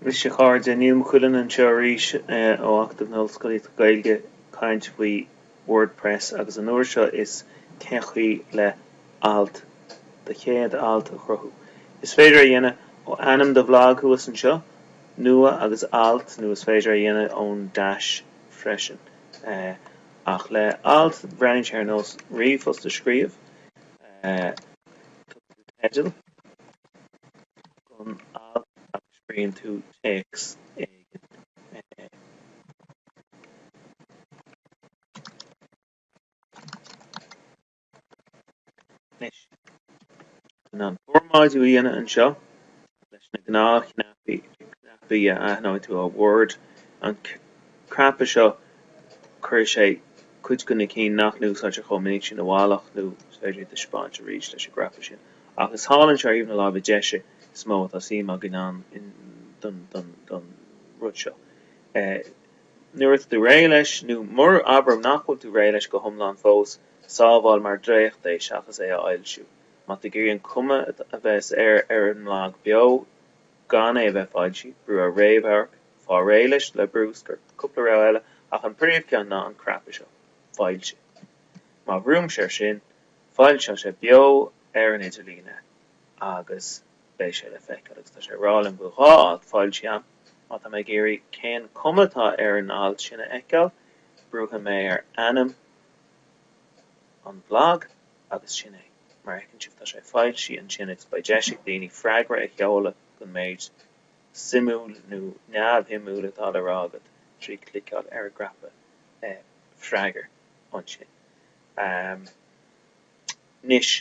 Anois a chairde, Neil Ó Cuilinn anseo arís ó Acadamh na hOllscolaíochta Gaeilge ag caint faoi Wordpress agus an uair seo is cén chaoi le alt, do chéad alt a chruthú. Is féidir é dhéanamh ó ainm do bhlag thuas anseo, Nua agus Alt nó is féidir é dhéanamh ón dash freisin. Ach le alt, breathnaíonn sé ar nós ríomhphost a scríobh, tugtar dó teideal, Don alt agus scríobhann tú téacs éigin. Anois, chun an formáidiú a dhéanamh anseo, leis na gnáthchnaipí, cnaipí a aithneoidh tú ó Word, an cnaipe seo, cuirfidh sé cuid de na cinn nach n-úsáidtear chomh minic sin i bhfolach, nó is féidir iad a thaispeáint arís leis an gcnaipe sin. Ach is thall anseo ar thaobh na láimhe deise is mó atá suim againn ann don rud seo. Nuair atá tú réidh leis, nó mura abair muid nach bhfuil tú réidh leis go hiomlán fós, sábháil mar dhréacht é seachas é a fhoilsiú. Má tá tú ag iarraidh an chuma a bheas air ar an mblag beo gan é a bheith foilsithe, brú ar réamhamharc, fáil réidh leis le brúscar. Cúpla rogha eile, ach an príomhcheann ná an cnaipe seo, foilsigh. Má bhrúimse air sin. Foilseoidh sé beo ar an idirlíon agus beidh sé le feiceáil agus tá sé ag rá liom go bhfuil alt foilsithe agam. Má tá mé ag iarraidh cén cuma atá ar an alt sin a fheiceáil, brúfaidh mé ar ainm an bhlag agus sin é. Mar a fheiceann sibh, tá sé foilsithe ansin agus beidh deis ag daoine freagra a sheoladh don méid suimiúil nó neamhshuimiúil atá le rá agat trí chliceáil ar an gcnaipe freagair ansin. Anois,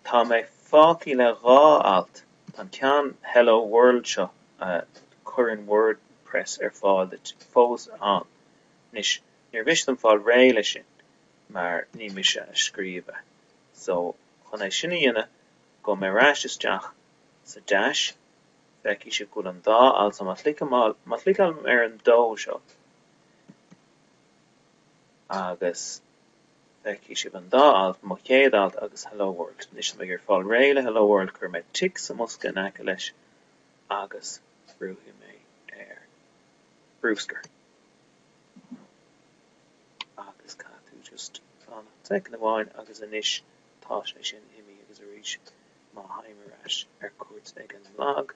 tá mé fágthaí le dhá alt, tá an ceann Hello World seo a chuireann Wordpress ar fáil fós ann. Anois, níor mhiste dom fáil réidh leis sin, mar ní mise a scríobh é. So, chun é sin a dhéanamh, gabhfaidh mé ar ais isteach sa Dash, feicfidh sibh go bhfuil ann dá alt, so má chliceálaim ar an dó seo, Agus feicfidh sibh an dá alt, mo chéad alt agus Hello World. Anois, tá mé ag goil fáil réidh le Hello World, cuirfidh mé tic sa mbosca in aice leis agus brúfaidh mé ar bruscar. Agus caithfidh tú just fanacht soicind amháin agus anois tá sé sin imí agus arís má thagaim ar ais ar cuairt ag an mblag,